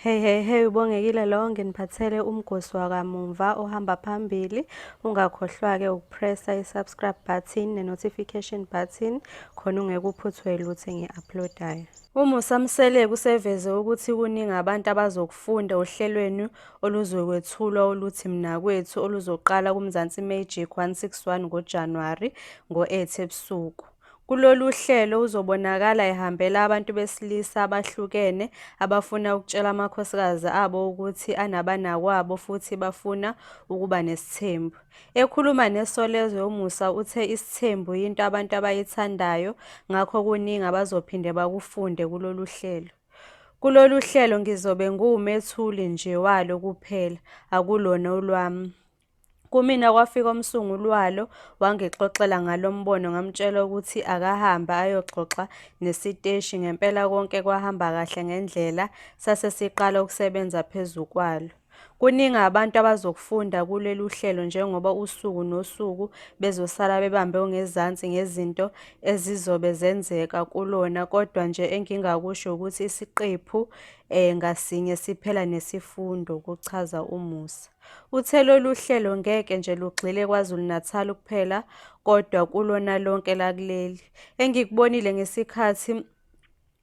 Hey hey hey ubongekile lo nginiphathele umgosi wakamumva ohamba phambili ungakhohlwa ke ukupressa i-subscribe button ne-notification button khona ungekuphuthwe lutho engi-uploadayo umusa mseleko useveze ukuthi kuningi abantu abazokufunda ohlelweni oluzokwethulwa oluthi mnakwethu oluzoqala kumzansi magic 161 ngojanuwari ngo-8 ebusuku Kulolu hlelo uzobonakala ehambela abantu besilisa abahlukene abafuna ukutshela amakhosikazi abo ukuthi anabanakwabo futhi bafuna ukuba nesithembu. Ekhuluma neSolezwe uMusa uthe isithembu yinto abantu abayithandayo ngakho kuningi abazophinde bakufunde kulolu hlelo. Kulolu hlelo ngizobe ngiwumethuli nje walo kuphela, akulona olwami. Kumina kwafika umsunguli walo wangixoxela ngalo mbono ngamtshela ukuthi akahambe ayoxoxa nesiteshi ngempela konke kwahamba kahle ngendlela sase siqala ukusebenza phezu kwalo. Kuningi abantu abazokufunda kulolu hlelo njengoba usuku nosuku bezosala bebambe ongezansi ngezinto ezizobe zenzeka kulona kodwa nje engingakusho ukuthi isiqephu um ngasinye siphela nesifundo, kuchaza uMusa. Uthe lolu hlelo ngeke nje lugxile KwaZulu-Natal kuphela kodwa kulona lonke lakuleli. Engikubonile ngesikhathi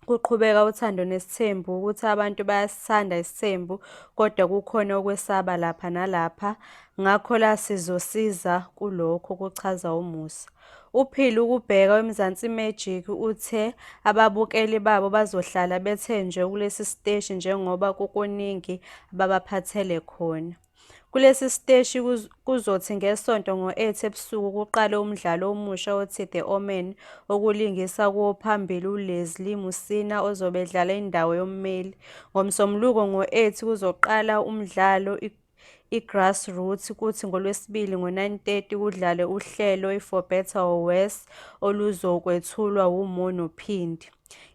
kuqhubeka uthando nesithembu ukuthi abantu bayasithanda isithembu kodwa kukhona okwesaba lapha nalapha ngakho la sizosiza kulokho kuchaza uMusa. UPhil ukubheka weMzansi Magic uthe ababukeli babo bazohlala bethenjwe kulesi siteshi njengoba kukuningi ababaphathele khona. Kulesi siteshi kuzothi ngeSonto ngo-8 ebusuku kuqale umdlalo omusha othi The Omen okulingisa kuwo phambili uLeslie Musina ozobe edlala indawo yommeli. NgoMsombuluko ngo-8 kuzoqala umdlalo iGrassroots kuthi ngoLwesibili ngo-9:30 kudlale uhlelo iFor Better or Worse oluzokwethulwa wuMono Phindi.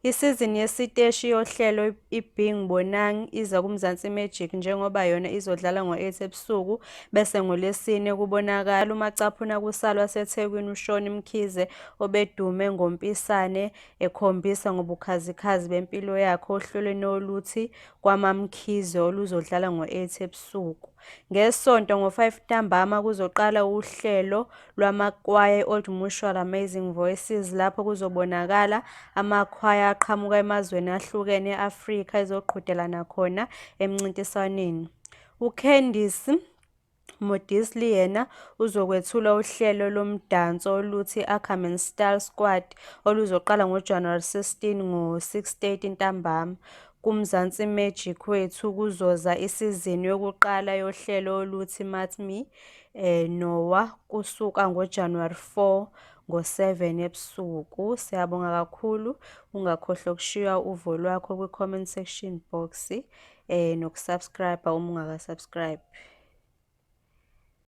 Isizini yesiteshi yohlelo iBing Bonang iza kuMzansi Magic njengoba yona izodlala ngo-8 ebusuku bese ngoLwesine kubonakala umacaphuna kusalo waseThekwini uShoni Mkhize obedume ngompisane ekhombisa ngobukhazikhazi bempilo yakhe ohlelweni oluthi KwaMaMkhize oluzodlala ngo-8 ebusuku. NgeSonto ngo-5 ntambama kuzoqala uhlelo lwamakwaya e-Old Mutual Amazing Voices lapho kuzobonakala amakhwaya aqhamuka emazweni ahlukene e-Afrika ezoqhudelana khona emncintiswaneni. UCandice Modisli yena uzokwethula uhlelo lomdanso oluthi Ackerman Style Squad oluzoqala ngoJanuwari 16 ngo-6:30 ntambama. KuMzansi Magic wethu kuzoza isizini yokuqala yohlelo oluthi Mat Me eh, Noah kusuka ngoJanuwari 4 ngo-7 ebusuku. Siyabonga kakhulu. Ungakhohlwa ukushiywa uvo lwakho kwi-comment section box. eh nokusubscribe uma ungakasubscribe